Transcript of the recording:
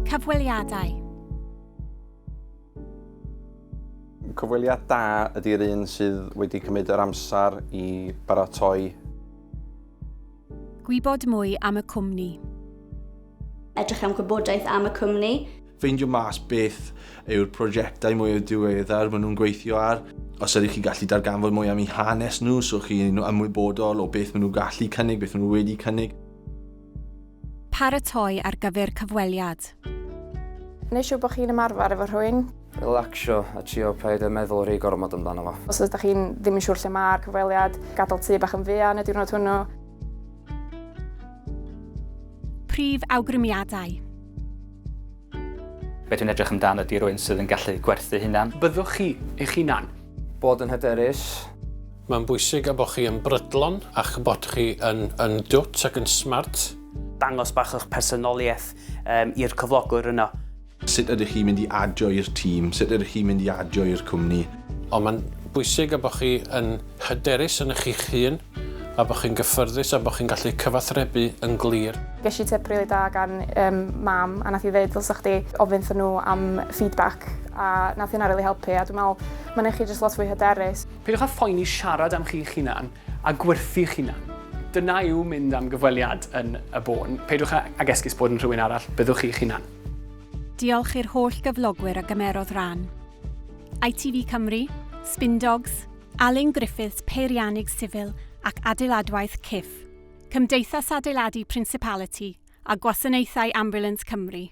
Cyfweliadau. Cyfweliad da ydy'r un sydd wedi cymryd yr amser i baratoi. Gwybod mwy am y cwmni. Edrych am gwybodaeth am y cwmni. Ffeindio mas beth yw'r prosiectau mwyaf diweddar maen nhw'n gweithio ar. Os ydych chi'n gallu darganfod mwy am eu hanes nhw, so chi'n ymwybodol o beth maen nhw'n gallu cynnig, beth maen nhw wedi cynnig. Paratoi ar gyfer cyfweliad. Neu siŵr bod chi'n ymarfer efo rhywun. Relacsio a trio paid â meddwl rhy gormod amdano fo. Os ydych chi'n ddim yn siŵr lle mae'r cyfweliad, gadael tŷ bach yn fuan y diwrnod hwnnw. Prif awgrymiadau. Be dwi'n edrych amdan ydy rhywun sydd yn gallu gwerthu hunan. Byddwch chi eich hunan. Bod yn hyderus. Mae'n bwysig y bod chi yn brydlon a'ch bod chi yn yn dwt ac yn smart. Dangos bach o'ch personoliaeth um, i'r cyflogwr yno. Sut ydych chi'n mynd i adio i'r tîm? Sut ydych chi'n mynd i adio i'r cwmni? Ond mae'n bwysig y bod chi yn Hyderus ynoch chi'ch hun, a bod chi'n gyffyrddus a bod chi'n gallu cyfathrebu yn glir. Ges i tip rili da gan yym mam a nath hi ddeud ddylsa chdi ofyn 'thyn nhw am feedback a nath hynna rili helpu a dwi'n me'wl ma' neu' chi jyst lot fwy hyderus. Peidiwch â phoeni siarad am chi'ch hunan a gwerthu'ch hunan. Dyna yw mynd am gyfweliad yn y bôn. Peidiwch a ag esgus bod yn rhywun arall, byddwch chi'ch hunan. Diolch i'r holl gyflogwyr a gymerodd ran. ITV Cymru, Spin Dogs, Alun Griffiths Peiriannydd Sifil ac Adeiladwaith Cyff, Cymdeithas Adeiladu Principality a Gwasanaethau Ambulance Cymru.